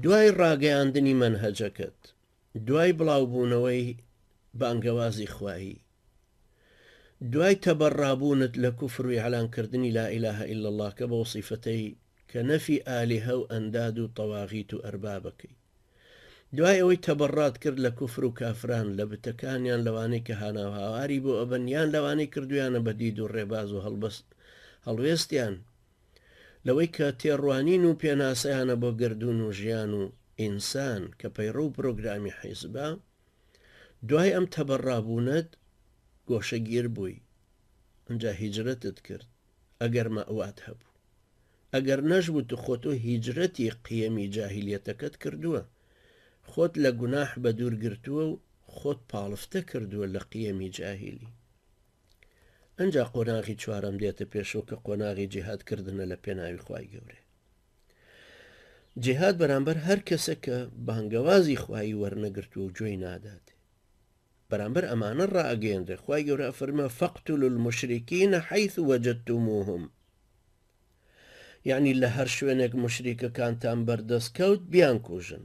دوای ڕاگەیاندنی مەنهەجەکەت، دوای بڵاوبوونەوەی بانگەوازی خوایی، دوای تەبەڕابوونت لە کوفر و ئیعلان کردنی لا الە الا اللە کە بەو سیفەتەی کە نەفی ئالیهە و ئەنداد و طواغیت و ارباب اکەی، دوای ئەوەی تەبەڕات کرد لە کوفر و کافران لە بتەکانیان لەوانەی کە هاناو هاواری بۆ ئەبەن یان لەوانەی کردویانە بە دید و ڕێباز و هەڵوێستیان، لەوەی کە تێڕوانین و پێناسەیانە بۆ گەردوون و ژیان و ئینسان کە پەیڕەو و پرۆگرامی حیزبە، دوای ئەم تەبەڕابوونەت گۆشەگیر بووی، ئنجا هیجرەتت کرد ئەگەر مەئوات هەبوو، ئەگەر نەشبوو تو خۆ تۆ هیجرەتی قیەمی جاهیلیەتەکەت کردووە، خۆت لە گوناح بەدوور گرتووە و خۆت پاڵفتە کردووە لە قیەمی جاهیلی. ئەنجا قۆناغی چوارەم دێتە پێشەوە کە قۆناغی جیهاد کردنە لە پێناوی خوای گەورێ جیهاد بەرامبەر هەر کەسە کە بانگەوازی خوای وەرنەگرتو و گوێی نادات بەرامبەر ئەمانە ڕاگەێنرێ خی گەورە فەرمە فەقتول المشریکیە حیث وەجدتموهم یعنی لە هەر شوێنێک مشریکەکانتان بەردەست کەوت بیان کوژن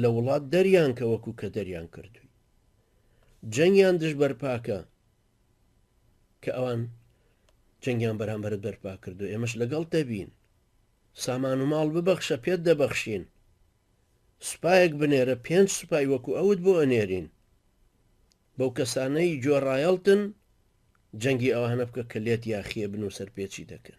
لە وڵات دەریان کە وەکو کە دەریان کردوی جەنگیان دژ بەرپاکە کە ئەوان جەنگیان بەرامبەرت بەرپا کردو ئێمەش لەگەڵ دەبین سامان و ماڵ ببەخشە پێت دەبەخشین سوپایەک بنێرە پێنج سوپای وەکو ئەوت بۆ ئەنێرین بەو کەسانەی جۆڕایەڵتن جەنگی ئەوانە بکە کە لێت یاخیێ بن و سەرپێچی دەکەن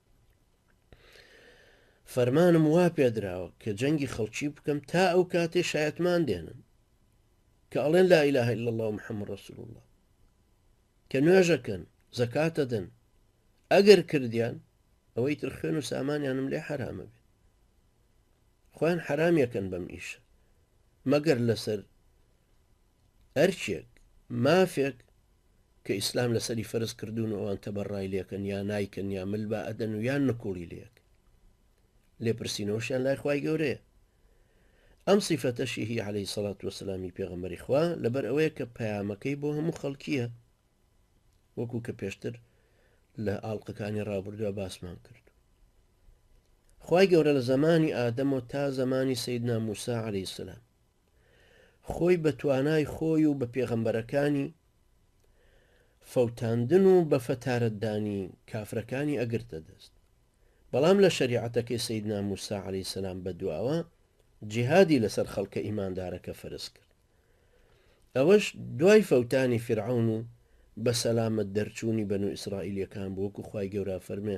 فەرمانم وا پێدراوە کە جەنگی خەڵکی بکەم تا ئەو کاتێ شایەتمان دێنن کە ئەڵێن لا إله إلا الله محمد رسول الله کە نوێژەکەن زەکاتە دەن ئەگەر کردیان ئەوەی تر خوێن و سامانیانم لێ حرامە بێت خۆیان حرامیەکەن بەم ئیشە مەگەر لەسەر ئەرکێک، مافێک، کە ئیسلام لەسەری فەرز کردوون و ئەوان تەبەڕای لێکەن یا نایکەن یا مل بە ئەدەن و یان نکوڵی لێک لێپرسینەوەشیان لای خی گەورەیە ئەم سیفەتەشی هی عليهەی سەڵات وسلامی پێغەمەری خوا لەبەر ئەوەیە کە پەیامەکەی بۆ هەموو خەڵکیە وەکو کە پێشتر لە ئاڵلقەکانی ڕابردووە باسمان کرد خی گەورە لە زمانی ئادەمەوە تا زمانی سیدنا موسا عليهەی سلام خۆی بە توانای خۆی و بە پێغەمبەرەکانی فەوتاندن و بە فەتارەتدانی کافرەکانی ئەگرتە دەست بەڵام لە شەریعەتەکەی سیدنا موسا عەلی سەسلام بە دواوە جیهادی لەسەر خەڵکە ئیماندارەکە فەرز کرد ئەوەش دوای فەوتانی فرعون و بە سەلامت دەرچوونی بەن و ئیسرائیلەکان بۆکو خی گەورە فەرمێ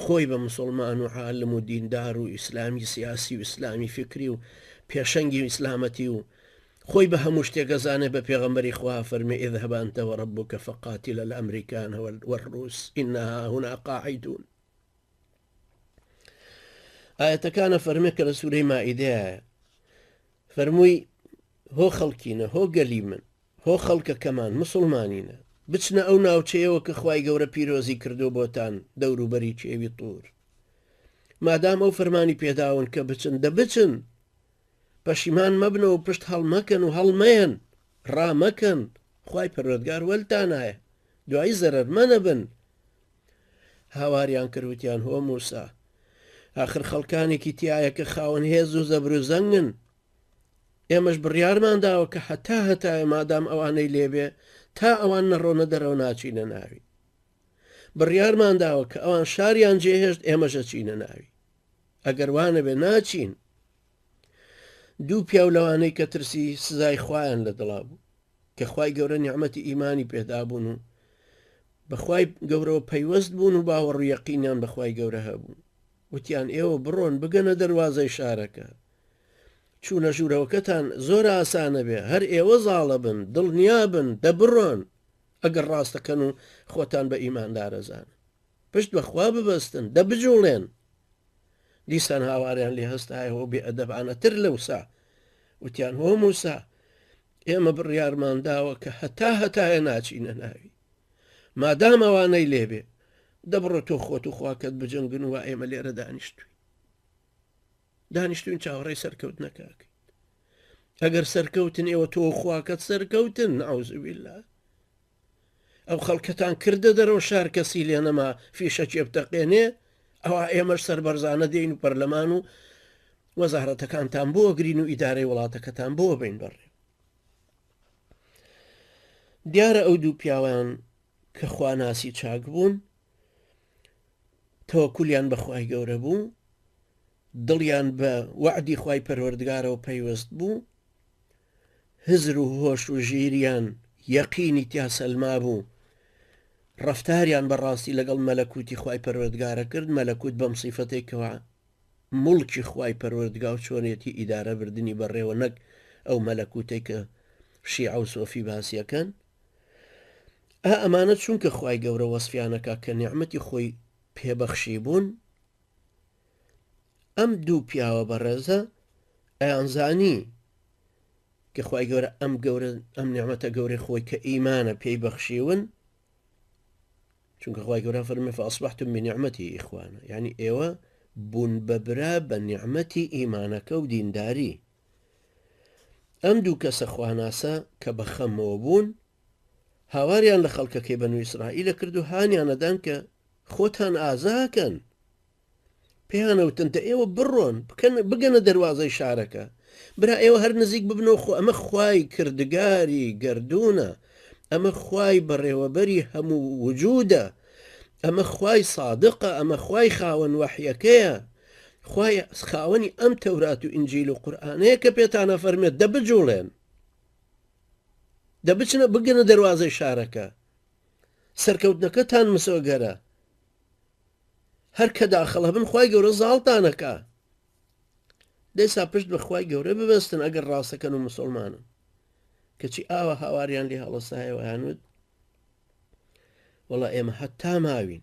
خۆی بە موسڵمان و عالم و دیندار و ئیسلامی سیاسی و ئیسلامی فیکری و پێشەنگی ئیسلامەتی و خۆی بە هەموو شتێک ئەزانێت بە پێغەمبەری خوا فەرمی اذهب انت و ربک فقاتلا الامریکان و الروس انا هاهنا قاعدون ئاەتەکانە فەرمێک کە لە سوورەی مائیدەیە فەرمووی هۆ خەڵکینە هۆ گەلی من هۆ خەڵکەکەمان موسڵمانینە بچنە ئەو ناوچەیەوە کە خوای گەورە پیرۆزی کردووە بۆتان دەوروبەری کێوی طور مادام ئەو فەرمانی پێداون کە بچن دە بچن پەشیمان مەبنە و پشت هەڵمەکەن و هەڵمەیەن ڕامەکەن خوای پەروەردگار وەلتانایە دوایی زەرەر مەنەبن هاواریان کرد وتیان هۆ موسا ئاخر خەڵکانێکی تایە کە خاوەن هێز و زەبروزەنگن ئێمەش بڕیارمان داوە کە هەتا هەتایە مادام ئەوانەی لێبێ تا ئەوان نەڕۆنە دەرەوە ناچینە ناوی بڕیارمان داوە کە ئەوان شاریان جێهێشت ئێمەژە چینە ناوی ئەگەر وانەبێ ناچین دوو پیاو لەوانەی کە ترسی سزای خوایان لە دڵا بوو کە خی گەورە نیعممەتی ئیمانی پێدابوون و بەخوای گەورەوە پەیوەست بوون و باوەڕویەقینیان بەخوای گەورە هەبوو وتیان ئێوە بڕۆن بگەنە دەواازەی شارەکە چونە ژورەوەکەتان زۆر ئاسانە بێ هەر ئێوە زاڵە بن دڵنیا بن دە بڕۆن ئەگەر ڕاستەکەن و خۆتان بە ئیماندارە زانن پشت بە خوا ببەستن دە بجوڵێن دیسان هاواریان لێ هەستایەوە بێ ئەدەبانە تر لەوسا وتیان هۆ موسا ئێمە بڕیارمان داوە کە هەتا هەتایە ناچینە ناوی مادام ئەوانەی لێبێ دەبڕە تۆ خۆت و خواکەت بجەنگن و ئێمە لێرە دانیشتوی دانیشتوین چاوەڕێی سەرکەوتنەکە ئەکەین ئەگەر سەرکەوتن ئێوە تۆ خواکەت سەرکەوتن ناوزویلا ئەو خەڵکەتان کردە دەرەوە شار کەسی لێ نەما فیشە چێبتەقێنێ ئەوە ئێمەش سەربەرزانە دێن و پەرلەمان و وەزارەتەکانتان بۆ گرین و ئیدارەی وڵاتەکەتان بۆ بین بڕێ دیارە ئەو دوو پیاوان کە خواناسی چاک بوون تەوەکولیان بە خوای گەورە بوو دڵیان بە وەعدی خوای پەروەردگارەوە پەیوەست بوو هزر و هۆش و ژیریان یەقینی تیا سەلما بوو ڕفتاریان بەڕاستی لەگەڵ مەلەکوتی خوای پەروەردگارە کرد مەلەکوت بەم سیفەتێکەوە مڵکی خوای پەروەردگا و چۆنێتی ئیدارە بردننی بەڕێوە نەک ئەو مەلەکوتێکە شیعە و سۆفی باسیەکەن ئا ئەمانە چونکە خوای گەورە وەسفیان ئەکا کە نیعمەتی خۆی پێ بەخشیبوون ئەم دوو پیاوە بەڕێزە ئەیانزانی کە خوای گەورە ئەم گەورە ئەم نیعمەتە گەورەی خۆی کە ئیمانە پێی بەخشیون چونکە خوای گەورە فەرمی فاصبحتم بنعمەتی ئیخوانە یعنی ئێوە بوون بە برا بە نیعممەتی ئیمانەکە و دینداری ئەم دوو کەسە خواناسە کە بە خەمەوە بوون هاواریان لە خەڵکەکەی بەنو ئیسرائیلە کرد و هانیانەدان کە خۆتان ئازاکەن پێیانەوتن دە ئێوە بڕۆن بکەن بگەنە دەواازەی شارەکە برا ئێوە هەر نزیک ببنەوە خۆ ئەمە خوای کردگاری گردونە ئەمە خوای بەڕێوەبەری هەموو وجودە ئەمە خوای سادقە ئەمە خوای خاوەن وەحیەکەیە خوایە خاوەنی ئەم تەورات و ئینجیل و قورئانەیە کە پێتان ئەفەرمێت دە بجوڵێن دە بچنە بگەنە دەروازەی شارەکە سەرکەوتنەکەتان مسۆگەرە هەر کە داخڵ هەبن خی گەورە زاڵتانەکە دەسا پشت بەخوای گەورە ببستن ئەگەر ڕاستەکەن و مسلمانن کەچی ئاوە هاواریان لێ هەڵەسایەوەیانوت وڵا ئێمە هەتا ماوین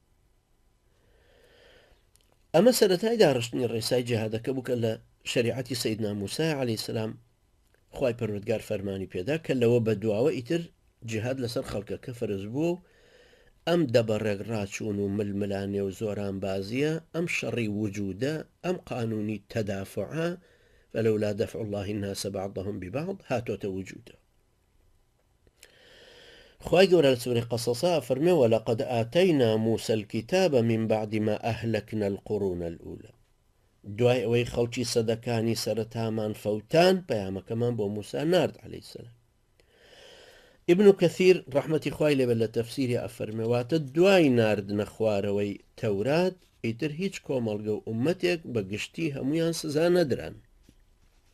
ئەمە سەرەتای داڕشتنی ڕێسای جیهادەکە بووکە لە شریعەتی سیدنا موسای علی سلام خی پەروەگار فەرمانی پێدا کە لەوە بە دواوە ئیتر جیهاد لەسەر خەڵکەکە فەرز بووە و ئەم دەبەڕێک ڕاچوون و ململانێ و زۆران بازیە ئەم شەڕی وجودە ئەم قانونی تەدافعە فلولا دفع الله الناس بعضهم ببعض هاتۆتە وجودە خوای گەورە لە سورەی قەسەسا ئەفەرمێ ولقد آتینا موسی الکتاب من بعد ما اهلکنا القرون الاولی دوای ئەوەی خەڵکی سەدەکانی سەرەتامان فەوتان پەیامەکەمان بۆ موسا نارد عليه السلام ابن کەثیر ڕحمەتی خوای لێبێت لە تەفسیری ئەفەرمەواتە دوای ناردنە خوارەوەی تەورات ئیتر هیچ کۆمەڵگە و عومەتێک بە گشتی هەمویان سزا نەدران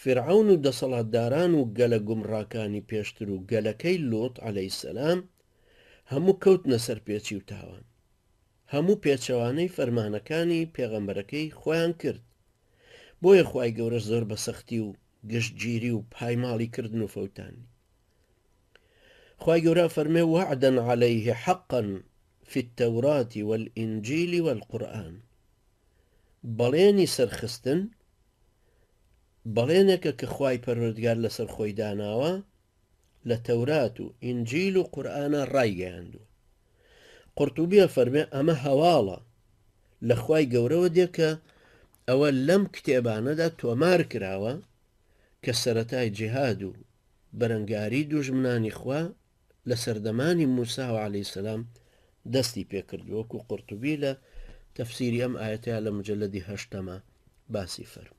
فیرعەون و دەسەڵاتداران و گەلە گومڕاکانی پێشتر و گەلەکەی لوط علیە السلام هەموو کەوتنە سەر پێچی و تاوان هەموو پێچەوانەی فەرمانەکانی پێغەمبەرەکەی خۆیان کرد بۆیە خوای گەورە زۆر بە سەختی و گشتگیری و پایماڵی کردن و فەوتاندی خوای گەورە فەرمێ وعدا علیه حقا فی التوراة والانجیل والقرآن بەڵێنی سەرخستن بەڵێنێکە کە خوای پەروەردگار لەسەر خۆی داناوە لە تەورات و ئینجیل و قورآە ڕایگەیاندووە قرتوبیە فەرمێ ئەمە هەواڵە لە خوای گەورەوە دێکە ئەوە لەم کتێبانەدا تۆمار کراوە کە سەتای جیهاد و بەرەنگاری دوژمنانی خوا لە سەردەمانی موساوە علی سلام دەستی پێکرد وەکو قرتوبی لە تەفسیری ئەم ئاەتەیە لە مجلدی هەشتەمە باسی فەرم